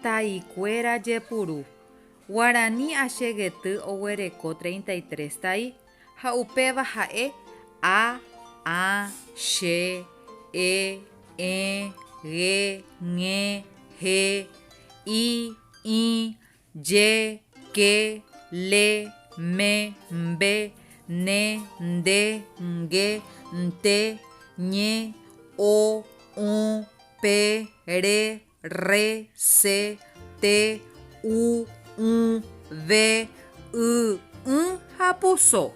Taikuéra jepuru. Guarani achegety oguereko treinta y tres tai, ha upéva ha'e a, ã, che, e, ẽ, ge, ñe, he, i, ĩ, Je, ke, le, me, mbe, ne, nde, nge, nte, ñe, o, ũ, pe, re, rre, se, te, u, ũ, ve, y, ỹ ha puso.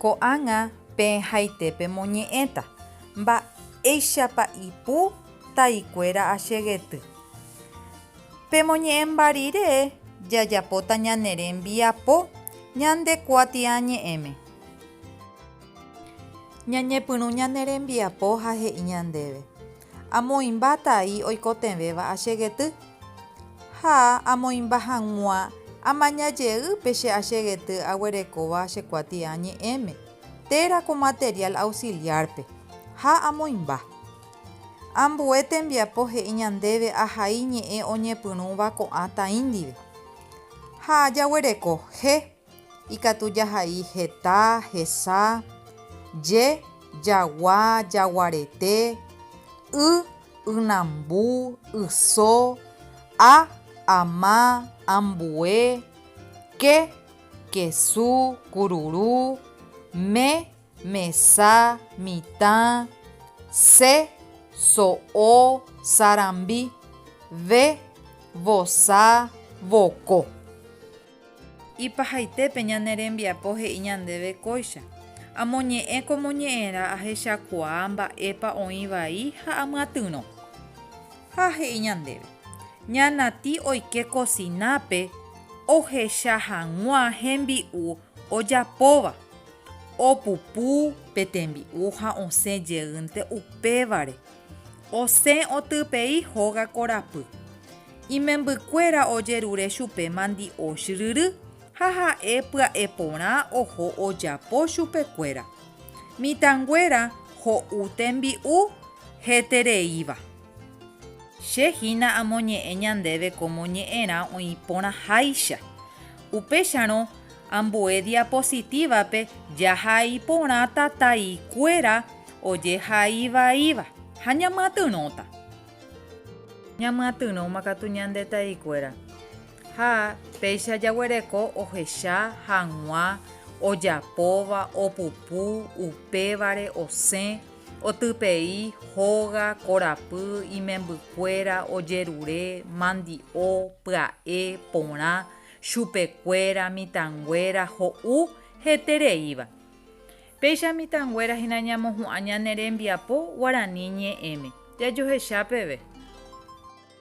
Ko'ág̃a peẽhaite pemoñe'ẽta, Mba'éichapa ipu taikuéra achegety. Pemoñe'ẽmba rire jajapóta ñane rembiapo ñande kuatiañe'ẽme. Ñañepyrũ ñane rembiapo ha he'i ñandéve, Amoĩmba tai oikotevẽva achegety, ha amoĩmba hag̃ua amaña jey pe che achegety aguerekóva che kuatiañe'ẽme, térã ko material auxiliar-pe, ha amoĩmba. Ambue tembiapo he'i ñandéve ahai ñe'ẽ oñepyrũva ko'ã tain ndive. Ha jaguereko je, ikatu jahai heta, hesa, je, jagua, jaguarete, y, ynambu, yso, a, ama, ambue, ke, kesu, kururu, me, mesa, mitã, se, so'o, sarambi, ve, vosa, voko. Ipahaitépe ñane rembiapo he'i ñandéve kóicha, Amoñe'ẽ ko moñe'ẽrã ahechakuaa mba'épa oĩ vai ha amyatyrõ. Ha he'i ñandéve, Ña Nati oike kosinápe ohecha hag̃ua hembi'u ojapóva Opupu pe tembi'u ha osẽ jeýnte upévare, osẽ otypei hóga korapy. Imembykuéra ojerure chupe mandi'osh ryry ha ha'e pya'e porã oho ojapo chupekuéra. Mitãnguéra ho'u tembi'u hetereíva. Che hína amoñe'ẽ ñandéve kómo ñe'ẽrã oĩ porãháicha. Upéicharõ, ambue diapositívape jahai porã tataikuéra ojehai vaíva ha ñamyatyrõta. Ñamyatyrõma katu ñande taikuéra ha péicha jaguereko ohecha hag̃ua ojapóva, opupu, upévare osẽ. Otypei, hóga, korapy, imembykuéra, ojerure, mandi'o, pya'e, porã, chupekuéra, mitãnguéra, ho'u, hetereíva. Péicha mitãnguéra hína ñamohu'ã ñane rembiapo guarani ñe'ẽme. Jajohecha peve.